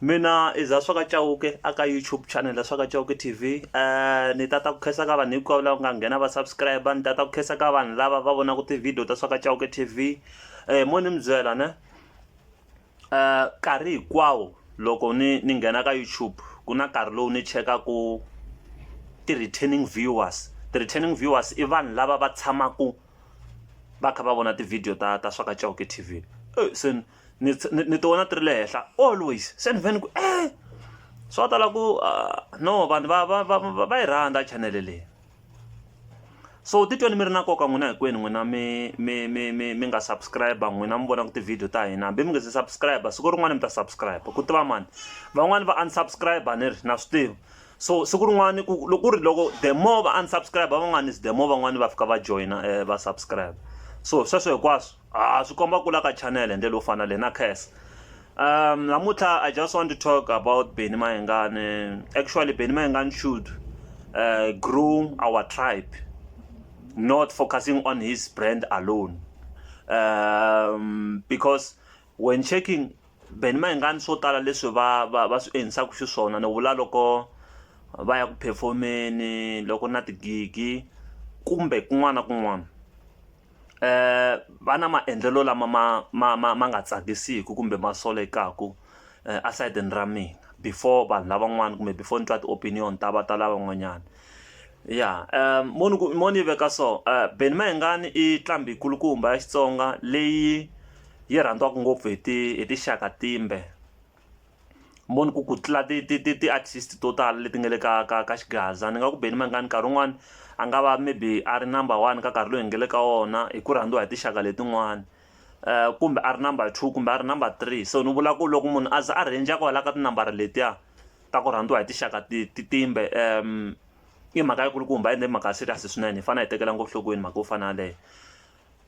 Mina i za swaka Chauke a ka YouTube channel ya swaka Chauke TV ni ta ta ku khensa ka vanhu hinkwavo lava nga nghena va subscriber ni ta ta ku khensa ka vanhu lava va vonaka ti-video ta swaka Chauke TV mo ni mi byela ne nkarhi hinkwawo loko ni ni nghena ka YouTube ku na nkarhi lowu ni chekaku ti-returning viewers ti-returning viewers i vanhu lava va tshamaku va kha va vona ti-video ta ta swaka Chauke TV se. ni ni ti vona ti ri le henhla always se ni vhe ni ku e swa tala ku no vanhu va va va va va yi rhandza chanele leyi so titweni mi ri na nkoka n'wina hinkwenu n'wina mi mi mi mi mi nga subscribe n'wina mi vonaka tivhidiyo ta hina hambi mi nga se subscribe siku rin'wana mi ta subscribe ku tiva mani van'wani va unsubscribe ni ri na swi tiva so siku rin'wana ku loko ku ri loko the more va unsubscribe van'wani is the more van'wani va fika va joyina va subscribe so sweswo hinkwaswo A swi komba kula ka channel hi ndlela yo fana na leyi na Cass namuntlha I just want to talk about Benny Mayengani actually Benny Mayengani should groom our tribe not focusing on his brand alone because when checking Benny Mayengani swo tala leswi va va va swi endlisaka xiswona ni vula loko va ya ku perform-eni loko na tigigi kumbe kun'wana na kun'wana va na maendlelo lama ma ma ma ma nga tsakisiku kumbe ma solekaku a sayitini ra mina before vanhu lavan'wana kumbe before ni twa ti opinion ta va ta lavan'wanyani ya mo ni ku mo ni yi veka so Benny Mayengani i nqambi kulukumba ya Xitsonga leyi yi rhandziwaka ngopfu hi ti hi tinxaka timbe. mo ni ku ku tlula ti ti ti ti artist to tala leti nga le ka ka ka xigaza ni nga ku beni mangani nkarhi wun'wani a nga va maybe a ri number one ka nkarhi loyi hi nga le ka wona hi ku rhandziwa hi tinxaka letin'wani kumbe a ri number two kumbe a ri number three so ni vula ku loko munhu a za a rhendza kwala ka tinambara letiya ta ku rhandziwa hi tinxaka ti ti timbe i mhaka yi kulukumba ende i mhaka ya serious swinene hi fane hi tekela nhlokweni mhaka yo fana na yaleyo.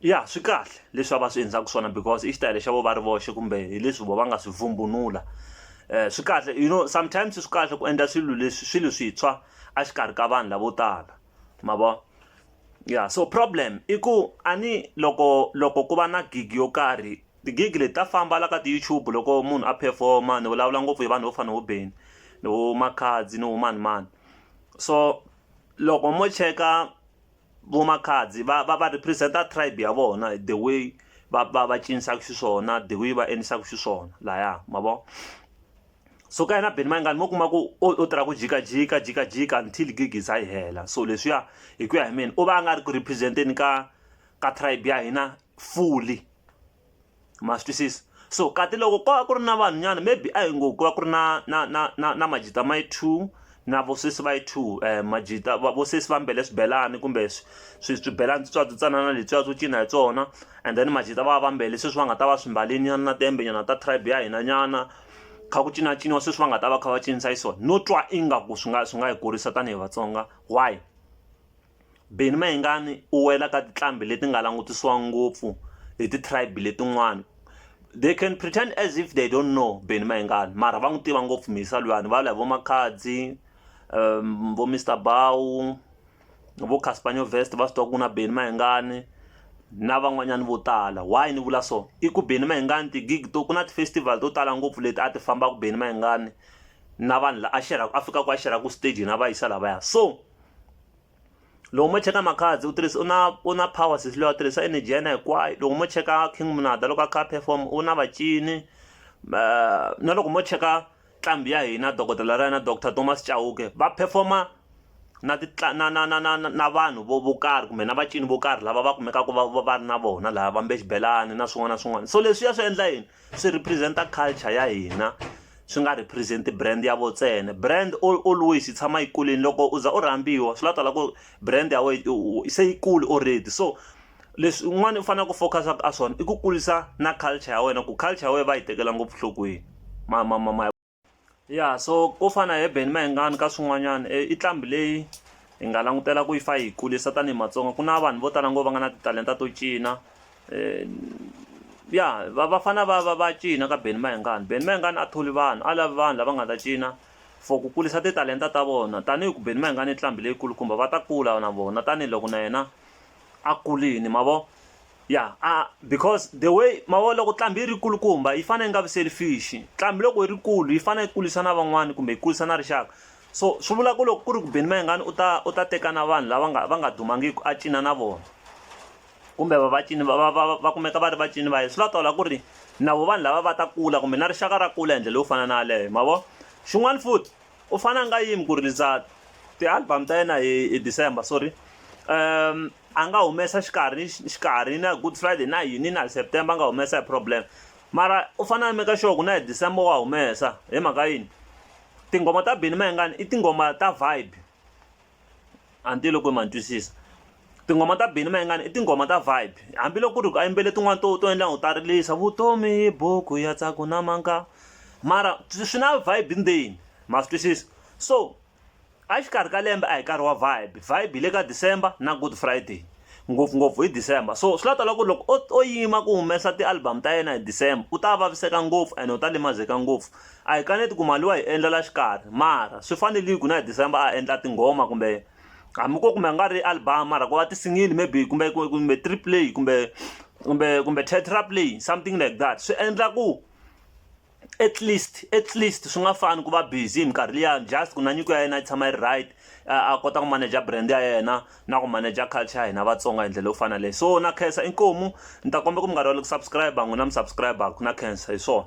ya swi kahle leswi a va swi endlaka swona because i xitayele xa vo va ri voxe kumbe hi leswi vo va nga swi vumbunula um swi kahle you know sometimes swi kahle ku endla swilo leswi swilo swintshwa a xikarhi ka vanhu lavo tala ma vo ya so problem i ku a ni loko loko ku va na gig yo karhi ti-gig leti ta famba la ka ti-YouTube loko munhu a perform-a ni vulavula ngopfu hi vanhu vo fana vo Benny ni vo Makhadzi ni vo mani mani so loko mo cheka vo makhadzi va va va represent tribe ya vona the way va va va cinisaka xiswona the way va endlisaka xiswona laya ma vo so ka yena beni mayingani mo kuma ku u tirha ku jikajika jikajika until gig za yi hela so leswiya hi ku ya hi mina u va a nga ri ku representeni ka ka tribe ya hina fully ma swi twisisa so kati loko ko va ku ri na vanhu nyana maybe a hi ngo ku va ku ri na na na na na majita ma yi two na vosesi va yi two um majita vosesi va mbele swibelani kumbe swi swibelani switswatsi tsanana letwiya swo cina hi tsona and then majita va va mbele sweswi va nga ta va swi mbale nyana na tembe nyana ta tribe ya hina nyana kha ku cinaciniwa sweswi va nga ta va kha va cinisa yi so no twa ingaku swi nga swi nga hi kurisa tanihi vatsonga why Benny Mayengani u wela ka tinqambi leti nga langutisiwa ngopfu hi ti-tribe letin'wana they can pretend as if they don't know Benny Mayengani mara va n'wi tiva ngopfu mhisa luyani va vula hi vo Makhadzi um vo Mister Bau vo Casper Nyovest va swi tiva ku na Benny Mayengani na van'wanyana vo tala why ni vula so i ku Benny Mayengani ti-gig to ku na ti-festival to tala ngopfu leti a ti fambaka Benny Mayengani na vanhu lava a xerhaka a fikaka a xerhaka stage na va yisa lavaya so. loko mo cheka makhadzi u tirhisa u na u na power sesi loyi a tirhisa energy ya yena hinkwayo loko mo cheka king munada loko a kha a perform u na vacini na loko mo cheka nqambi ya hina dokodela ra yena doctor Thomas Chauke va performer na ti na na na na na vanhu vo vo karhi kumbe na vacini vo karhi lava va kumekaka va va va ri na vona lava vambe xibelani na swin'wana na swin'wana so leswiya swi endla yini. swi represent-a culture ya hina swi nga represent brand ya vo ntsena brand all always yi tshama yi kulini loko u za u rhambiwa swi la tala ku brand ya wena se yi kuli already so leswi un'wana u faneleke ku focus-a ka swona i ku kurisa na culture ya wena ku culture ya wena va yi tekela ngopfu nhlokweni ma ma ma ma. ya so ko fana hi beni mayengani ka swin'wanyana e, i tlambi leyi hi nga langutela ku yi fa yi kulisa tanihi matsonga ku na vanhu vo tala ngo va nga na titalenta to cina e, ya va va fana va va va cina ka beni mayengani beni mayengani a tholi vanhu a lavi vanhu lava nga ta cina for ku kulisa titalenta ta vona tanihi ku beni mayengani i tlambi leyikulu kumbe va ta kula na vona tanihiloko na yena a kulini ma vo ya a because the way mavona loko ntlhambi yi ri kulukumba yi fanele yi nga vi selfish ntlhambi loko yi ri kulu yi fanele yi kurisa na van'wani kumbe yi kurisa na rixaka so swi vula ku loko ku ri ku beni mayengani u ta u ta teka na vanhu lava nga va nga dumangiki a cina na vona kumbe va vacini va va va va kumeka va ri vacini va yena swi la tola ku ri na vo vanhu lava va ta kula kumbe na rixaka ra kula hi ndlela yo fana na yaleyo ma vo xin'wana futhi u fane a nga yimi ku release ti-album ta yena hi hi December sorry a nga humesa xikarhi xikarhi na good friday na yini na September a nga humesa a hi problem mara u fane a make sure ku na hi December wa humesa hi mhaka yini tinghoma ta Benny Mayengani i tinghoma ta vibe. a ni tivi loko ma ni twisisa tinghoma ta Benny Mayengani i tinghoma ta vibe hambiloko ku ri ku a yimbele tin'wani to to endla u ta rilisa vutomi buku ya tsaku na manga mara swi na vibe ndzeni ma swi twisisa so a xikarhi ka lembe a hi nkarhi wa vibe vibe hi le ka December na good Friday. ngopfungopfu hi December so swi la ta lava ku ri loko o o yima ku humesa ti-album ta yena hi December u ta vaviseka ngopfu ene u ta limazeka ngopfu a hi kaneti ku mali wa hi endla la xikarhi mara swi fanerile ku na hi December a endla tinghoma kumbe hambi ko kumbe a nga ri album mara ku va tisingle maybe kumbe kumbe three play kumbe kumbe kumbe tetra play something like that swi endla ku at least at least swi nga fani ku va busy hi minkarhi liyani just ku na nyiko ya yena yi tshama yi ri right a kota ku manager brand ya yena na ku manager culture ya hina vatsonga hi ndlela yo fana leyi so na khensa inkomu ni ta kombela ku minkarhi yale ku subscribe n'wina mi subscribe na khensa hi swona